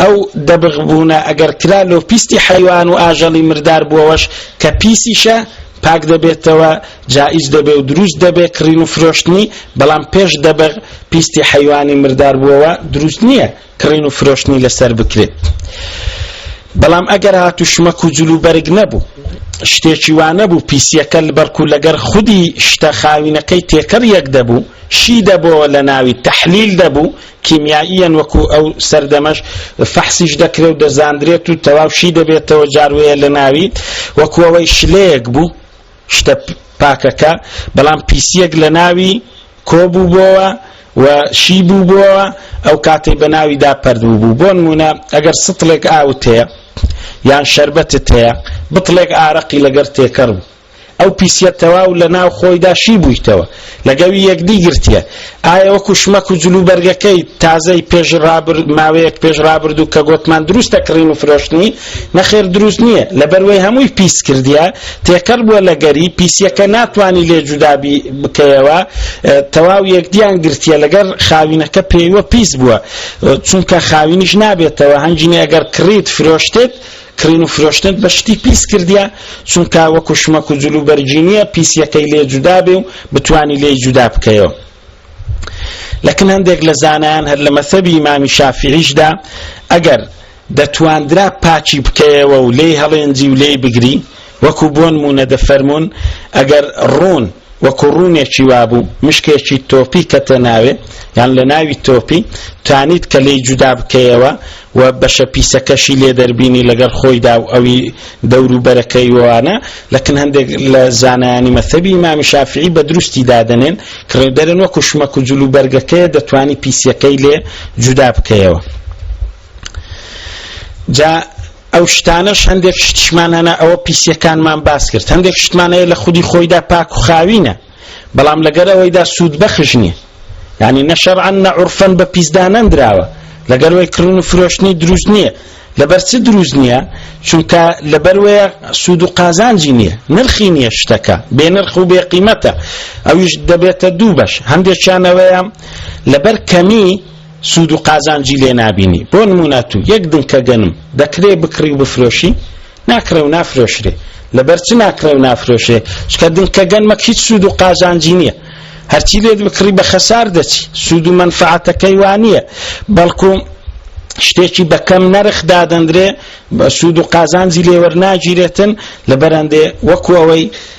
ئەو دەبغ بوونە ئەگەر کرا لۆ پیستی حەیوان و ئاژەڵی مردار بووەوەش کە پیسیشە پاک دەبێتەوە جائیز دەبێ و دروست دەبێ کڕین و فرۆشتنی بەڵام پێش دەبغ پیستی حەیوانی مردار بووەوە دروست نییە کڕین و فرۆشتنی لەسەر بکرێت بەڵام ئەگەر هات و شمەک و جلو بەرگ نەبوو شتێکی وانە بوو پیسیەکە بەرکو لەگەر خودی شتە خاوینەکەی تێکەڕ یەک دەبوو شی دەبەوە لە ناوی تحلیل دەبوو کیمیاییەن وەکو ئەو سەردەمەش فەحسیش دەکرێ و دەزاندرێت و تەواو شی دەبێتەوە جار وەیە لە ناوی وەکو ئەوەی شلەیەک بوو شتە پاکەکە بەڵام پیسیەک لە ناوی کۆبوو بۆوە و شی بوو بۆوە ئەو کاتەی بە ناویدا پەردوو بوو بۆ نمونە ئەگەر سطلێک ئاوت هەیە یان شربەتت هەیە بطلێک ئارەقی لەگەر تێکەڕ بوو ئەو پیسیە تەواو لە ناو خۆیدا شی بوویتەوە لەگەوی یەکدی گرتیە ئایا وەکو شمەک و جلو بەرگەکەی تازەی پێش رابر ماوەیەک پێش رابردوو کە گۆتمان دروستە کڕین و فرۆشتنی نەخێر دروست نییە لەبەروەی هەمووی پیس کردیە تێکەر بووە لەگەری پیسیەکە ناتوانانی لێ جودابی بکەیەوە تەواو یەکدیان گرتیە لەگەر خاوینەکە پێیوە پیس بووە چونکە خاوینیش نابێتەوە هەنجینە ئەگەر کڕیت فرۆشتت کڕین و فرۆشتنت بە شتی پیس کردیە چونکە وەکو شمەک و جلو بەرگی نیە پیسیەکەی لێ جودا بێ و بتوانی لێی جودا بکەیەوە لەکن هەندێک لە زانایان هەر لە مەسەبی ئیمامی شافعیشدا ئەگەر دەتواندرا پاکی بکەیەوە و لێی هەڵێنجی و لێی بگری وەکو بۆنموونە دەفەرموون ئەگەر ڕوون وەکو ڕوونێکی وابوو مشکێکی تۆپی کەتە ناوێ یان لە ناوی تۆپی توانیت کە لێی جودا بکەیەوە و بەشە پیسەکەشی لێ دەربینی لەگەڵ خۆیدا و ئەوی دەورو بەرەکەی وانە لەکن هەندێک لە زانایانی مەثەبی ئیمامی شافعی بە دروستی دادەنێن کڕێ دەرن وەکو شمەک و جلو بەرگەکەیە دەتوانی پیسەکەی لێ جودا بکەیەوە جا ئەو شتانەش هەندێک شتشمان هەنا ئەوە پیسیەکانمان باس کرد هەندێک شتمان هەیە لە خودی خۆیدا پاک و خاوینە بەڵام لەگەر ئەوەیدا سوود بەخش نییە یعنی نە شەرعەن نە عورفەن بە پیسدانەندراوە لەگەر وەی کڕن و فرۆشتنی دروست نییە لەبەر چ دروست نییە چونکە لەبەر وەیە سوود و قازانجی نییە نرخی نییە شتەکە بێ نرخ و بێ قیمەتە ئەویش دەبێتە دوو بەش هەندێکیانەوەیە لەبەر کەمی سوود و قازانجی لێ نابینی، بۆ نموونە تو یەک دنکە گەنم دەکرێ بکڕی و بفرۆشی؟ ناکڕێ و نافرۆشرێ، لەبەر چ ناکڕێ و نافرۆشرێ؟ چونکە دنکە گەنمەک هیچ سوود و قازانجی نییە، هەرچی لێت بکڕی بە خەسار دەچی، سوود و مەنفەعەتەکەی وا نییە، بەڵکو شتێکی بە کەم نەرخ دادەندرێ، سوود و قازانجی لێ وەرناگیرێتن، لەبەرئەندێ وەکو ئەوەی.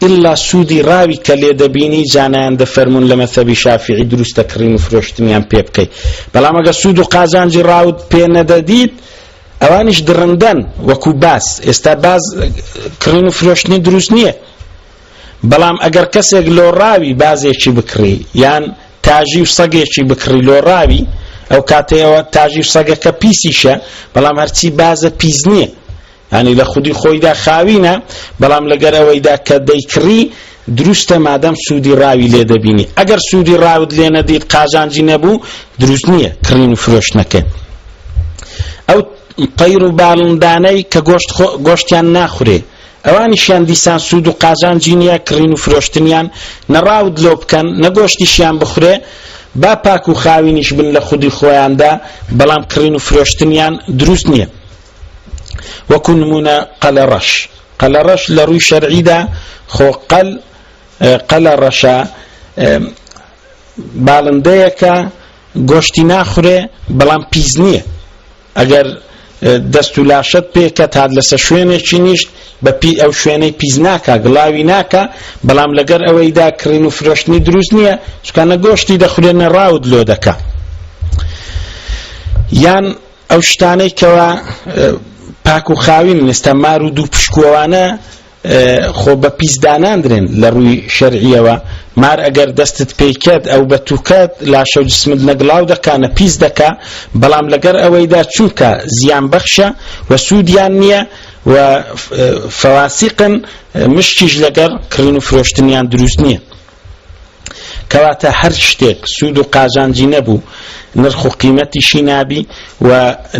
ئیلا سودی ڕاوی کە لێ دەبینی جا نایەن دەفەرمون لە مەزهەبی شافیعی دروستە کڕین و فرۆشتنیان پێ بکەی بەڵام ئەگەر سود و قازانجی ڕاوت پێ نەدەدیت ئەوانیش دڕندەن وەکو باز ئێستا باز کڕین و فرۆشتنی دروست نییە بەڵام ئەگەر کەسێک لۆ ڕاوی بازێکی بکڕی یان تاژی و سەگێکی بکڕی لۆ ڕاوی ئەو کاتەیەوە تاژی و سەگەکە پیسیشە بەڵام هەرچی بازە پیس نییە یانی لە خودی خۆیدا خاوینە بەڵام لەگەر ئەوەیدا کە دەیکڕی دروستە مادەم سوودی ڕاوی لێ دەبینی ئەگەر سوودی ڕاوت لێ نەدیت قازانجی نەبوو دروست نییە کڕین و فرۆشتنەکە ئەو قەیر و باڵندانەی کە گۆشت گۆشتیان ناخورێ ئەوانیشیان دیسان سوود و قازانجی نییە کڕین و فرۆشتنیان نەڕاوت لۆ بکەن نەگۆشتیشیان بخورێ با پاک و خاوینیش بن لە خودی خۆیاندا بەڵام کڕین و فرۆشتنیان دروست نییە وەکو نمونە قەلە ڕەش قەلە ڕەش لە ڕووی شەرعیدا خۆ قەل قەلە ڕەشە باڵندەیەکە گۆشتی ناخورێ بەڵام پیس نییە ئەگەر دەست و لاشت پێکە تا لەسە شوێنێکی نیشت بە پی ئەو شوێنەی پیس ناکە گڵاوی ناکە بەڵام لەگەر ئەوەیدا کڕین و فرۆشتنی دروست نییە چکانە گۆشتی دەخورێنە ڕاوت لۆ دەکە یان ئەو شتانەی کەوا پاک و خاوین لەستا مار و دوو پشکوەوانە خۆ بە پیسداناندرێن لە ڕووی شەرعیەوە مار ئەگەر دەستت پیکەت ئەو بە توکەت لاشە جسمت نەگڵاو دەکا نە پیس دەکا بەڵام لەگەر ئەوەیدا چونکە زیان بەخشە و سوودیان نییە و فەواسیقن مشتیش لەگەر کڕین و فرۆشتنیان دروست نییە کەواتە هەر شتێک سوود و قازانجی نەبوو نرخ و قیمەتیشی نابی و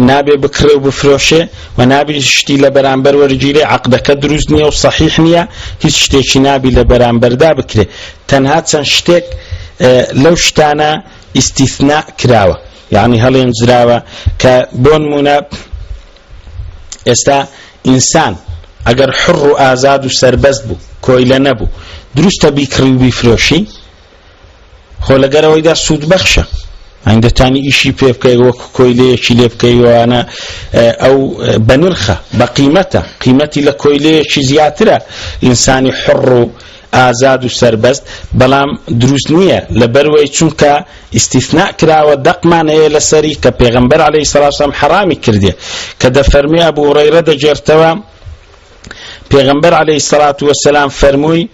نابێ بکڕێ و بفرۆشێ و نابی شتی لە بەرامبەر وەرگیرێ عقدەکە دروست نییە و صحیح نییە هیچ شتێکی نابی لە بەرامبەردا بکرێ تەنها چەند شتێک لەو شتانە ئیسیثنا کراوە یعنی هەڵێنجراوە کە بۆ نمونە ئێستا ئینسان ئەگەر حڕ و ئازاد و سەربەست بوو کۆیلە نەبوو دروستە بیکڕی و بیفرۆشی خۆ لەگەرەوەیدا سوودبەخشە هەندەتانی ئیشی پێ بکەی وەک کۆیلەیەکی لێ بکەیوانە ئەو بەنرخە بە قیمەتە قیمەتی لە کۆیلەیەکی زیاترە ئینسانی حڕ و ئازاد و سەربەست بەڵام دروست نیە لەبەروەی چونکە ئیستیثناء کراوە دەقمان هەیە لەسەری کە پێغەمبەر علیە سڵاو سلام حەڕامی کردیە کە دەفەرموێ ئەبو هوڕەیرە دەگێرتەوە پێغەمبەر علیە سڵات وسلام فەرمووی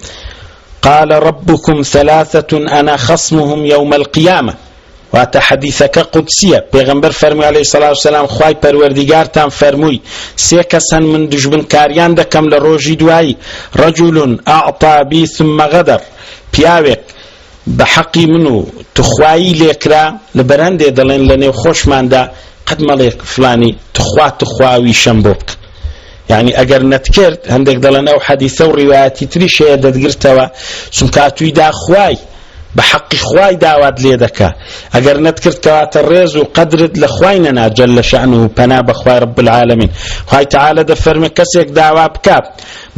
قال ربكم ثلاثة أنا خصمهم يوم القيامة واتە، حەدیسەکە قودسییە، پێغەمبەر فەرمووی، عەلەیهی سەڵا و سەلام، خوای پەروەردیگارتان فەرمووی، سێ کەس هەن من دوژمنکارییان دەکەم لە ڕۆژی دوایی، رجل اعطی بی ثم غدر، پیاوێک بە حەقی من و توخوایی لێکرا، لەبەر هەندێ دەڵێن لە نێوخۆشماندا قەت مەڵێ فڵانی توخوا توخوا ویشەم بۆ بکە، یعنی ئەگەر نەتکرد هەندێک دەڵێن ئەو حەدیثە و ڕیواەتی تریش هەیە دەتگرتەوە چونکاتوی دا خوای بە حەقی خوای داوات لێ دەکا ئەگەر نەتکرد کەواتە ڕێز و قەدرت لە خوای نەناجل لە شەن و پەنا بەخوای رب العالمین خوای تعاالە دەفەرمە کەسێک داوا بکات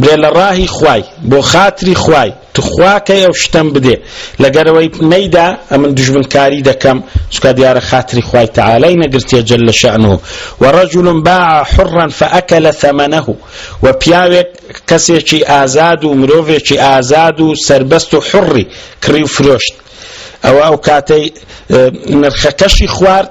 بێ لە ڕاهی خوای بۆ خاتری خوای تخوا کەی ئەو شتەم بدێ لەگەرەوەی نەیدا ئەمن دژمنکاری دەکەم چکە دیارە خاتری خوای تعالی نەگرتیە جل لە شەعنه و رجل باع حرا فأكل ثمنه و پیاوێک کەسێکی ئازاد و مرۆڤێکی ئازاد و سربەست و حڕی کڕی و فرۆشت ئەوە ئەو کاتەی نرخەکەشی خوارد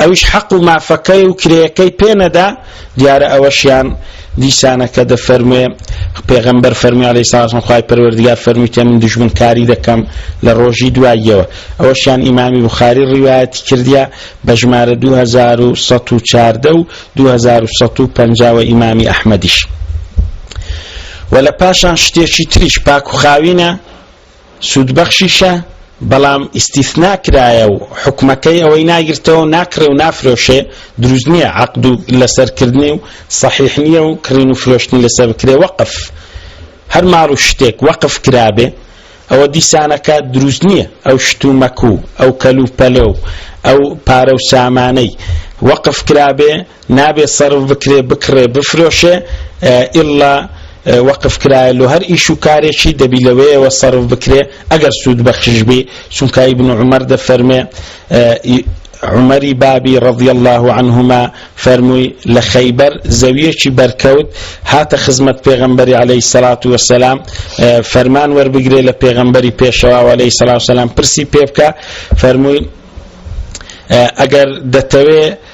ئەویش حەق و مافەکەی و کرێیەکەی پێ نەدا، دیارە ئەوەشیان دیسانەکە دەفەرموێ، پێغەمبەر فەرمووی علیە سڵاوات وسلام، خوای پەروەردگار فەرموویتە من دوژمنکاری دەکەم لە ڕۆژی دواییەوە، ئەوەشیان ئیمامی بوخاری ڕیوایەتی کردیە بە ژمارە دوو هەزار و سەد و چواردە و دوو هەزار و سەد و پەنجا وە ئیمامی ئەحمەدیش. وە لە پاشان شتێکی تریش پاک و خاوینە، سوودبەخشیشە، بەڵام ئیستیثنا کرایە و حوکمەکەی ئەوەی ناگرتەوەو ناکڕێ و نافرۆشێ، دروست نیە عەقد و لەسەر کردنی و صەحیح نیە و کڕین و فرۆشتنی لەسەر بکرێ، وەقف، هەر ماڵ و شتێک وەقف کرابێ ئەوە دیسانەکە دروست نیە ئەو شت و مەک و ئەو کەل و پەلە و ئەو پارە و سامانەی وەقف کرابێ، نابێ سەرف بکرێ بکڕێ بفرۆشێ ئیللا وەقف کرایە لۆ هەر ئیش و کارێکی دەبی لەوەیەوە سەرف بکرێ ئەگەر سوود بەخش بی چونکە ئیبن عومەر دەفەرمێ عمری بابی رضی الله عنهما فەرمووی لە خەیبەر زەویەکی بەرکەوت هاتە خزمەت پێغەمبەری عليه سەلات وسلام فەرمان وەربگرێ لە پێغەمبەری پێشەوا عليه سەلا سلام پرسی پێ بکە فەرمووی ئەگەر دەتەوێ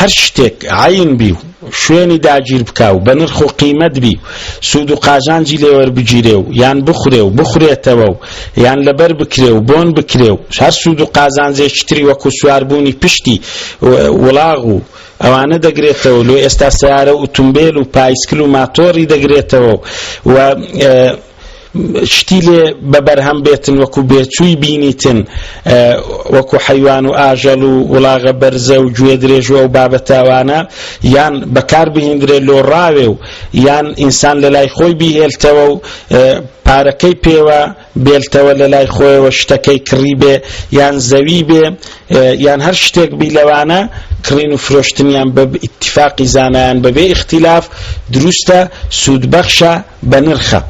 هەر شتێک عەین بی و شوێنی داگیر بکا و بە نرخ و قیمەت بی و سوود و قازانجی لێ وەربگیرێ و یان بخورێ و بخورێتەوە و یان لەبەر بکرێ و بۆن بکرێ و هەر سوود و قازانجێکی تری وەکوو سواربوونی پشتی وڵاغ و ئەوانە دەگرێتەوە لۆ ئێستا سەیارە و ئوتومبێل و پایسکل و ماتۆڕی دەگرێتەوە و شتی لێ بە بەرهەم بێتن وەکو بێچووی بینیتن وەکو حەیوان و ئاژەڵ و وڵاغە بەرزە و گوێ درێژوە و بابەتاوانە یان بەکار بهێندرێ لۆ ڕاوێ و یان ئینسان لە لای خۆی بیهێلتەوە و پارەکەی پێوە بێلتەوە لە لای خۆیەوە شتەکەی کڕی بێ یان زەوی بێ یان هەر شتێک بی لەوانە کڕین و فرۆشتنیان بە ئیتفاقی زانایان بەبێ ئختیلاف دروستە سوودبەخشە بەنرخە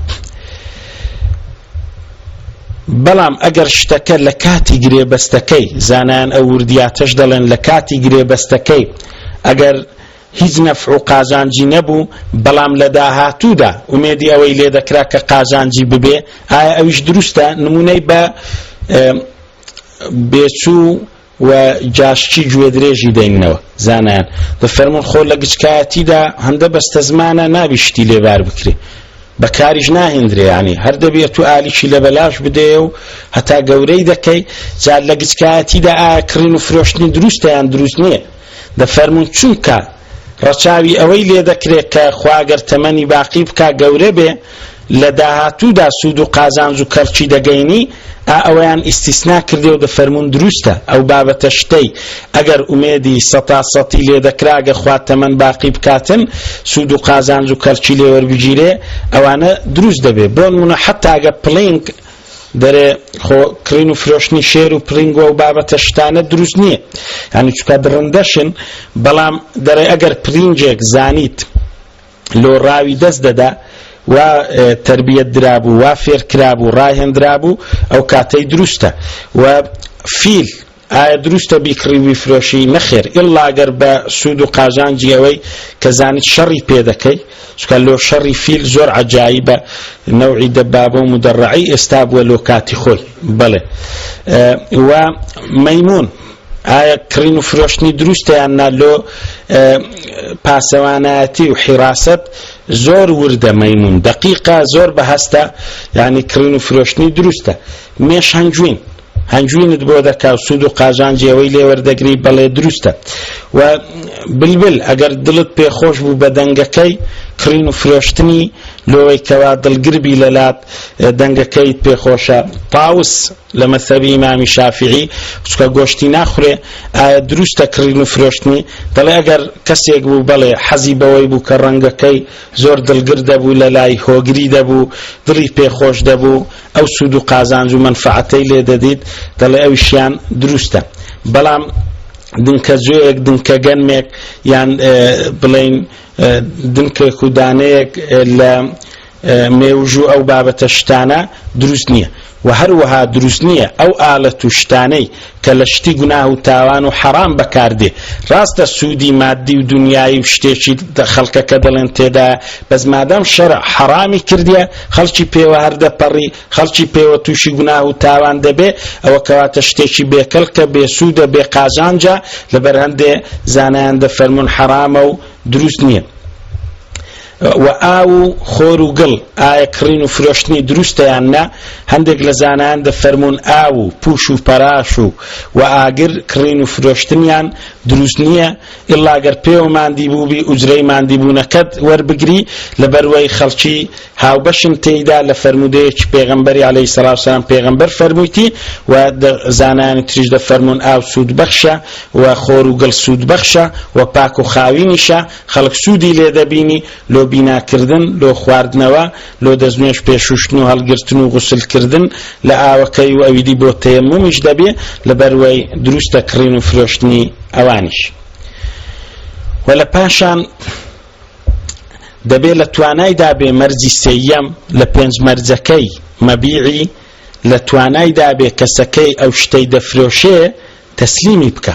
بەڵام ئەگەر شتەکە لە کاتی گرێبەستەکەی زانایان ئەو وردیاتەش دەڵێن لە کاتی گرێبەستەکەی ئەگەر هیچ نەفع و قازانجی نەبوو بەڵام لە داهاتوودا ئومێدی ئەوەی لێ دەکرا کە قازانجی ببێ ئایا ئەویش دروستە نمونەی بە بێچوو و جاشی گوێدرێژی دەیننەوە زانایان دەفەرمون خۆ لە گچکایەتیدا هەندە بەستەزمانە نابی شتی لێبار بکرێ بەکاریش ناهێندرێ ینی هەر دەبێت و ئالیکی لە بەلاش بدەیە و هەتا گەورەی دەکەی جا لە گچکایەتیدا ئایا کڕین و فرۆشتنی دروستیان دروست نییە دەفەرمون چونکە ڕەچاوی ئەوەی لێ دەکرێ کە خوا گەر تەمەنی باقی بکا گەورە بێ لە داهاتوودا سوود و قازانج و کەڵکی دەگەینی، ئا ئەوەیان ئیستیسنا کردێ و دەفەرموون دروستە ئەو بابەتە شتەی ئەگەر ئومێدی سەتا سەتی لێ دەکرا گە خوا تەمەن باقی بکاتن سوود و قازانج و کەڵکی لێ وەربگیرێ ئەوانە دروست دەبێ بۆنموونە حەتاگە پلینک دەرێ خۆ کڕین و فرۆشتنی شێر و پرینگۆ و بابەتە شتانە دروست نییە یانی چکە درندەشن بەڵام دەرێ ئەگەر پرینجێک زانیت لۆ ڕاوی دەست دەدا و تربیەت درابوو وا فێرکرابوو ڕاهێنرابوو ئەو کاتەی دروستە و فیل ئایا دروستە بیکڕی وبیفرۆشی؟ نەخێر ئیللا گەر بە سوود و قازانجی ئەوەی کە زانیت شەڕی پێ دەکەی چونکە لۆ شەڕی فیل زۆر عەجایبە نەوعی دەبابە و مدەڕعەی ئێستا بووە لۆ کاتی خۆی بەڵێ و مەیموون ئایا کڕین و فرۆشتنی دروستە یان نا لۆ پاسەوانایەتی و حیراسەت زۆر وردە مەیمون دقیقە زۆر بە هەستە یعنی کڕین و فرۆشتنی دروستە مێش هەنجوین هەنجوینت بۆ دەکا و سوود و قازانجی ئەوەی لێ وەردەگری بەڵێ دروستە و بلبل ئەگەر دڵت پێخۆش بوو بە دەنگەکەی کڕین و فرۆشتنی لۆی کەوا دڵگربی لەلات دەنگەکەیت پێخۆشە پاوس لە مەسەبی ئیمامی شافعی چکە گۆشتی ناخورێ ئایا دروستە کڕین و فرۆشتنی دەڵێ ئەگەر کەسێک بوو بەڵێ حەزی بەوەی بوو کە ڕەنگەکەی زۆر دڵگر دەبوو لە لای هۆگری دەبوو دڵی پێخۆش دەبوو ئەو سوود و قازانج و مەنفەعەتەی لێ دەدیت، دەڵێ ئەویشیان دروستە. بەڵام دنکە جۆیەک، دنکە گەنمێک یان بڵێین دنکێک و دانەیەک لە مێوژوو ئەو بابەتە شتانە دروست نییە و هەروەها دروست نییە ئەو ئالەت و شتانەی کە لە شتی گوناه و تاوان و حەرام بەکار دێ ڕاستە سوودی مادی و دونیایی و شتێکی خەڵکەکە دەڵێن تێدایە بەس مادام شەرع حەڕامی کردیە خەڵکی پێوە هەر دەپەڕی خەڵکی پێوە تووشی گوناه و تاوان دەبێ ئەوە کەواتە شتێکی بێ کەڵکە بێ سوودە بێ قازانجە لەبەر هەندێ زانایان دەفەرموون حەرامە و دروست نییە و ئاو و خۆر و گڵ، ئایا کڕین و فرۆشتنی دروستە یان نە، هەندێک لە زانایان دەفەرموون ئاو و پوش و پەراش و و ئاگر کڕین و فرۆشتنیان دروست نییە، ئیللا گەر پێوە ماندی بووبی ئوجرەی ماندیبوونەکەت وەربگری، لەبەروەی خەڵکی هاوبەشن تێیدا، لە فەرموودەیەکی پێغەمبەری علیە سڵاو سلام پێغەمبەر فەرموویتی و زانایانی تریش دەفەرموون ئاو سوود بەخشە و خۆر و گڵ سوود بەخشە و پاک و خاوینیشە، خەڵک سوودی لێ دەبینی لۆ بیناکردن، لۆ خواردنەوە، لۆ دەستنوێژ پێ شووشتن و هەڵگرتن و غوسلکردن لە ئاوەکەی و ئەویدی بۆ تەیەمومیش دەبێ لەبەروەی دروستە کڕین و فرۆشتنی ئەوانیش وە لە پاشان دەبێ لە توانای دابێ مەرجی سێیەم لە پێنج مەرجەکەی مەبیعی لە توانای دابێ کەسەکەی ئەو شتەی دەفرۆشێ تەسلیمی بکە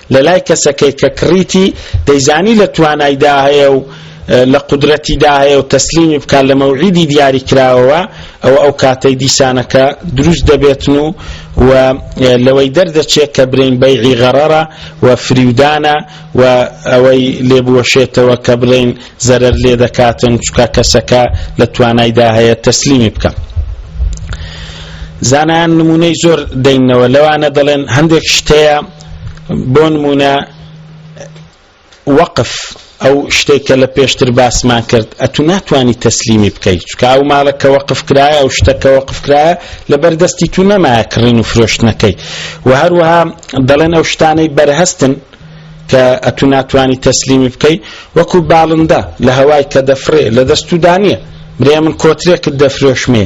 لە لای کەسەکەی کە کڕیتی دەیزانی لە توانایدا هەیە و لە قودرەتیدا هەیە و تەسلیمی بکات لە مەوعیدی دیاری کراوەوە ئەوە ئەو کاتەی دیسانەکە دروست دەبێتن و و لەوەی دەردەچێت کە برین بەیعی غەڕەرە و فریودانە و ئەوەی لێبوەشێتەوە کە بڵێن زەرەر لێ دەکاتن چکە کەسەکە لە توانایدا هەیە تەسلیمی بکەم زانایان نمونەی زۆر دەینەوە لەوانە دەڵێن هەندێک شتەیە بۆنمونە وەقف ئەو شتێک کە لە پێشتر باسمان کرد ئەتو ناتانی تەسلیمی بکەیت چکە ئەو ماڵە کە وەقف کرایە ئەو شتە کە وەقف کرایە لە بەردەستی تو نەمایە کڕین و فرۆشتنەکەی و هەروەها دەڵێن ئەو شتانەی بەرهەستن کە ئەتو ناتانی تەسلیمی بکەیت وەکو باڵندە لە هەوای کە دەفرێ لە دەستودا نییە برێ من کۆترێکت دەفرۆشمێ